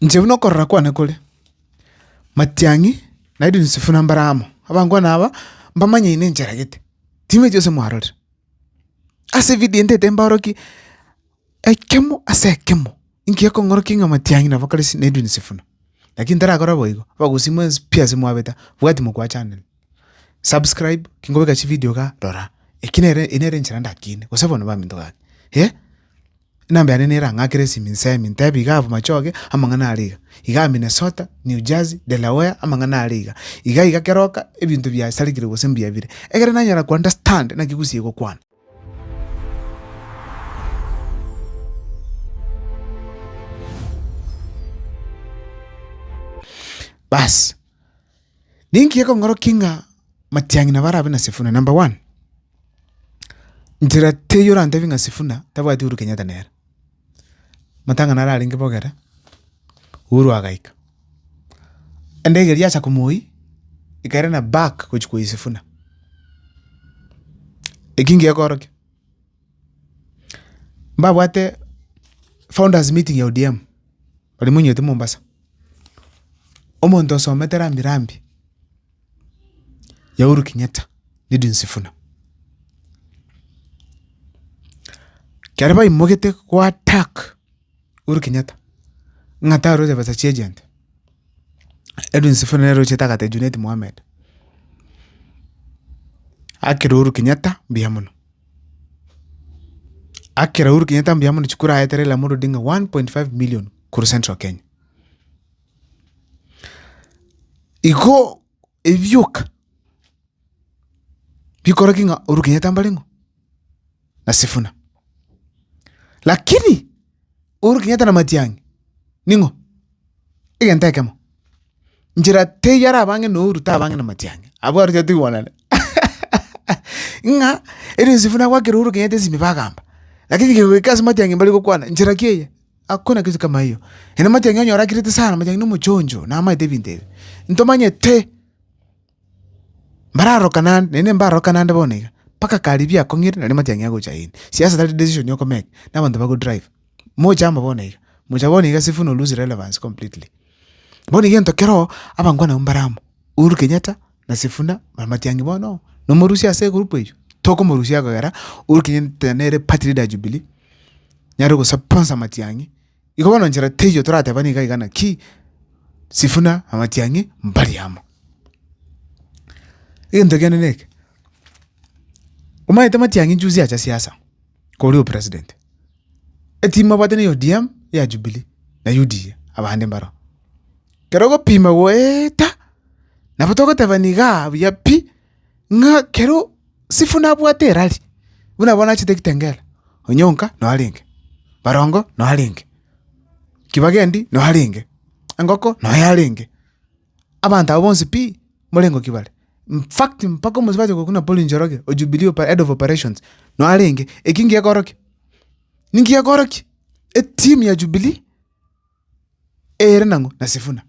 Inche buna okorora kwane kore, matiang'i naende Yusufu nambare amo, abangwana aba mbamanyeine enchera gete, timwechi gose mwarorire. Ase evidio ende tembaorokie ekemo ase ekemo ingekong'orokia ng'a matiang'i nabo kare si naende Yusufu. Lakini tarakora boigo, abagusii mwensi pi ase mwabeta, bwati mokwa chanire. Subscribe kingobeka chividio iga rora, eki nere eye nere enchera ndakine gose bono baminto gaki eh, enamba yane nere ang'aa kera esimi nsemi ntebi iga abwo machoge amang'ana are iga, igaa Minnesota, New Jersey, Delaware amang'ana are iga, iga iga kera oka ebinto biasarekire gose mbuya bire, ekero nanyara ko understand naki gusii egokwana. Baas. Ninki gekongorokia ng'a matiang'ina barabe na Sifuna? Number one, nchera teiyo orantebi ng'a Sifuna tabwati Uhuru Kenyatta nere. Matang'ana aria arenge bogere, Uhuru agaika. Endege eria yaacha komoiyia, ekairana back gochia koiyia Sifuna. Eki nki gekoorokia? Mbabwate founders meeting ya ODM, baria moinyete Mombasa. Omonto osomete rambi rambi ya Uhuru Kenyatta na Edwin Sifuna. Ekero baimogete go attack Uhuru Kenyatta ng'a taroche pesa chia agent, Edwin Sifuna nere ochete agotebia Junet Mohammed, akire Uhuru Kenyatta mbuya mono. Akera Uhuru Kenyatta mbuya mono chikura aete Raila Amolo Odinga 1.5 million korwa Central Kenya. Igo ebioka bikoraki ng'a Uhuru Kenyatta mbare ng'o na Sifuna. Lakini Uhuru Kenyatta na Matiang'i ning'o? Egento ekemo. Nchera teiyo arabang'e na Uhuru tabang'e na Matiang'i. Abwo aro tiga togwanane ng'a ere Yosefu nagwakera Uhuru Kenyatta esimi bagamba. Lakini kegoika ase Matiang'i mbare gokwana nchera ki eye? Hakuna kitu kama hiyo. Ere Matiang'i onyora akirete sana, Matiang'i nomochonjo, namaete ebinto ebi. Ntomanyete. Mbararokana ande, naende mbarokana ande bono iga, mpaka karibu yakong'ire nari matiang'i agocha aino. Siasa tari decision okomake, nabanto bago drive. Mocha amo bono iga, mocha bono iga sifuna o lose relevance completely. Bono egento keroo, abango nabwo mbare amo, Uhuru Kenyatta na sifuna na matiang'i bono, nomorusia ase egroup eywo, tokomorusia kogera Uhuru Kenyatta nere party leader ya Jubilee, nere ogosaponsa matiang'i. Igo bono nchera teiyo toratebani iga iga naki, Sifuna, Amatiang'i, mbari amo. Egento kende neke, omanyete Matiang'i juzi acha siasa koria opresident, eteam abwate ne ODM, eya Jubilee na UDA abande mbaroo. Kero ogopima goeeta, nabo togotebani igaa buya pi. ng'a ekero Sifu nabwate erari, buna bono achete ekitengela, Onyonka noo arenge, Barongo noo arenge, Kibagendi noo arenge, Engoko noo yarenge, abanto aba bonsi pi mbore ngoki bare. In fact mpaka omosubati oyo okokina Paul Njoroge o Jubilee opa- head of operations noo arenge. Eki ngekorokia, ninki gekorokia? Eteam ya Jubilee ere nang'o? Na Sifuna.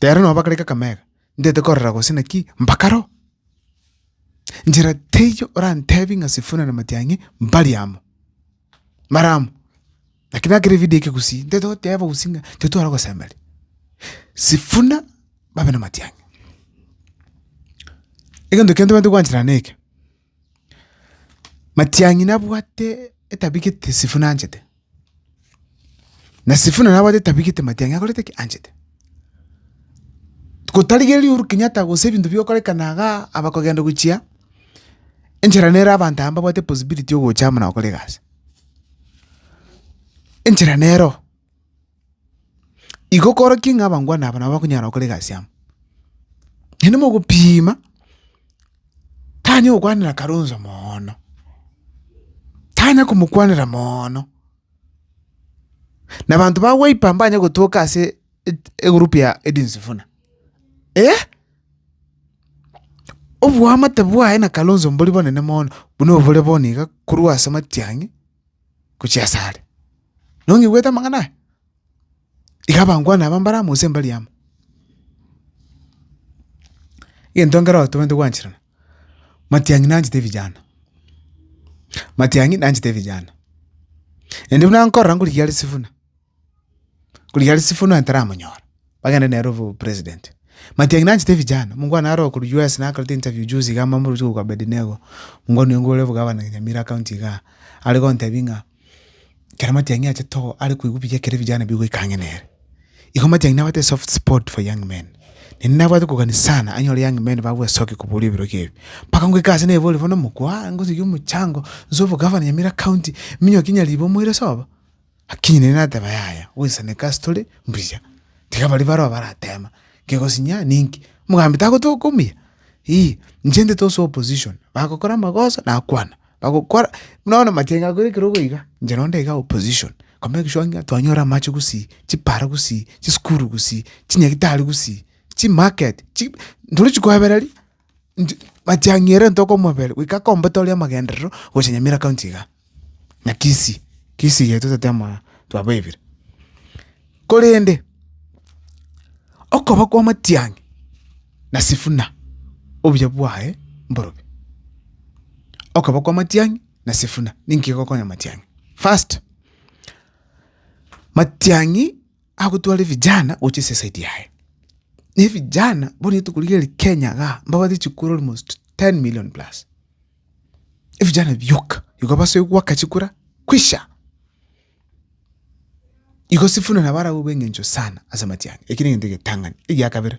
Rero nabo bakarenge akamega, ndete korora gose naki mpaka roo. Njera teiyo orantebi ng'a Sifuna na Matiang'i mbari amo, mbare amo. Naki nakera evidio eke gusii, nteto goteba gusii ng'a titware gosemeria Sifuna babe na Matiang'i. Egento kende tobwenerete gwanchera neke. Matiang'i nabwate etabia gete Sifuna anchete, na Sifuna nabwate etabia gete Matiang'i akorete ki? Anchete. Gotarigereria Uhuru Kenyatta gose ebinto bigokorekana igaa aba kogenda gochia, enchera nere abanto aya mbabwate possibility ya ogocha amo nagokora egasi, enchera nero. Igo okorokie ng'a abangwana aba nabo bakonyara gokora egasi amo. Naende mogopiima, tanya gokwanera Kalonzo moono, tanya komokwanera moono, na abanto ba wiper mbanye gotoka ase et- egroup ya Edwin Sifuna eh! Oboamate bwaye na Kalonzo mbori bonene mono, buna obore bono iga korwa ase matiang'i. gochia ase are. Nong'igwete amang'ana aya? Iga abangwana aba mbare amo gose mbari amo. Egento nkere otobwenerete gwancherana, matiang'i nanchete vijana, matiang'i nanchete vijana. Naende buna nkorora ngorigia are sifuna. Korigari Sifuna onye taramonyora, bagende nere obo president. Matiang'i nanchete vijana, mungu one aro okorwa US nakorete interview juzi iga mbambori gochia korwa Abednego, mungu one nigo ore obogavana Nyamira county igaa, are gontebia ng'a ekero Matiang'i achete oo are koigwa buya ekero vijana bigoika ang'e nere. Igo Matiang'i nabwate esoft spot for young men. Naende nabwate kogania sana anyore young men babua esoki koboria ebiroki ebi. Mpaka ngoika ase naebori bono mokwa, ngosibie omochango, nse obogavana Nyamira county, minyokie Nyaribo moire sobo. Lakini nere nateba, Yaya, gwensaneka ase tore mbuya. Tiga baria baroa barateema, Kegosinya ninki? Omogambi tagotoka omuya? Ii, inche ndete ase opposition, bagokora amagoso nakwana, bagokora buna bono matianga akore ekerogo iga, inche nabo nde iga opposition. Koma egeswabi ng'a twanyore amache gosii, chipara gosii, chisukuru gosii, chinyagitari gosii, chimarket, chi, ntorochi koebereria. Inche matiang'i ere ntoke omobere goika akombete oria amagenderero gocha nyamira county igaa na kisii kisii eye totete amaa twabaebire korende okoba kwa matiang'i na sifuna obuya bwaye mborobio okoba kwa matiang'i na sifuna ninki egokonya matiang'i first matiang'i. agotware vijana gochia ase esaidi yaye, na evijana bono rituko riria ri kenya igaa mbabate chikura almost ten million plus, evijana bioka igo basoe goaka chikura kwisha, igo sifuna nabo arabwo bweng'encho sana ase amatiang'a, ekio na egento egetang'ani. Egiakabere.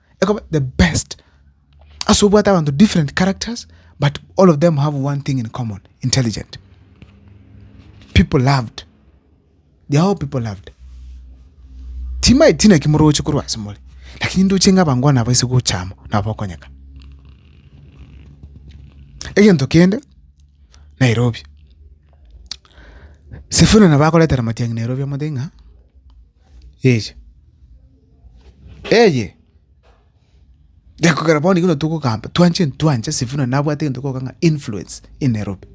ekoba the best ase obwate abanto different characters but all of them have one thing in common intelligent people loved they are all people loved timae tina kimoroche korwa ase more lakini ndoche ng'a abango nabo ase gochama nabo okonyeka egento kende Nairobi sifuna nabo akoretera matiang'i Nairobi amate ng'a. Eeh eye gekogera bono ekero togokamba twanche ntwancha Sifuna nabwate egento gokogaka ng'a influence i Nairobi.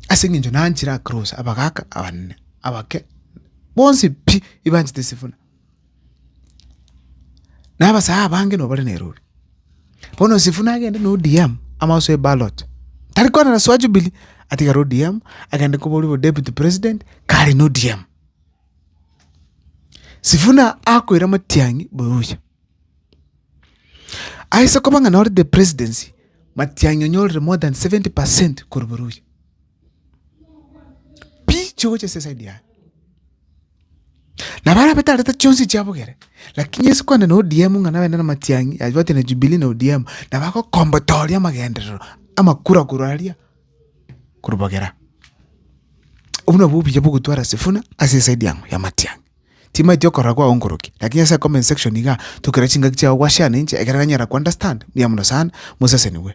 Ase eng'encho nanchire across abagaka, abanene, abake, bonsi pi ebanchete Sifuna. Na abasae abange nabo bare Nairobi. Bono Sifuna agende na ODM amo asoe ballot, tari kwana na soa Jubilee, atigare ODM agende koba oria bo Deputy President kare na ODM. Sifuna akoira Matiang'i boyoyia. Aise koba ng'a nore the presidency, Matiang'i onyorire more than seventy percent korwa boyoyia. Pi chigocha ase eside yaye. Nabo are abatarete chionsi chiabogere, lakini ase kogenda na ODM ng'a nabende na Matiang'i, yabwate na Jubilee na ODM, nabo agokombotoria amagenderero, amakura korwa aria. korobogera. Obwo nabwo obuya bwa ogotwara sifuna ase esaidi yamo ya amatiang'i. Timanyeti okorora kwao nkoroki, lakini ase comment section igaa, tokera chingaki chiao gwa share na inche ekero nanyara ko understand, mbuya mono sana, moseseniwe.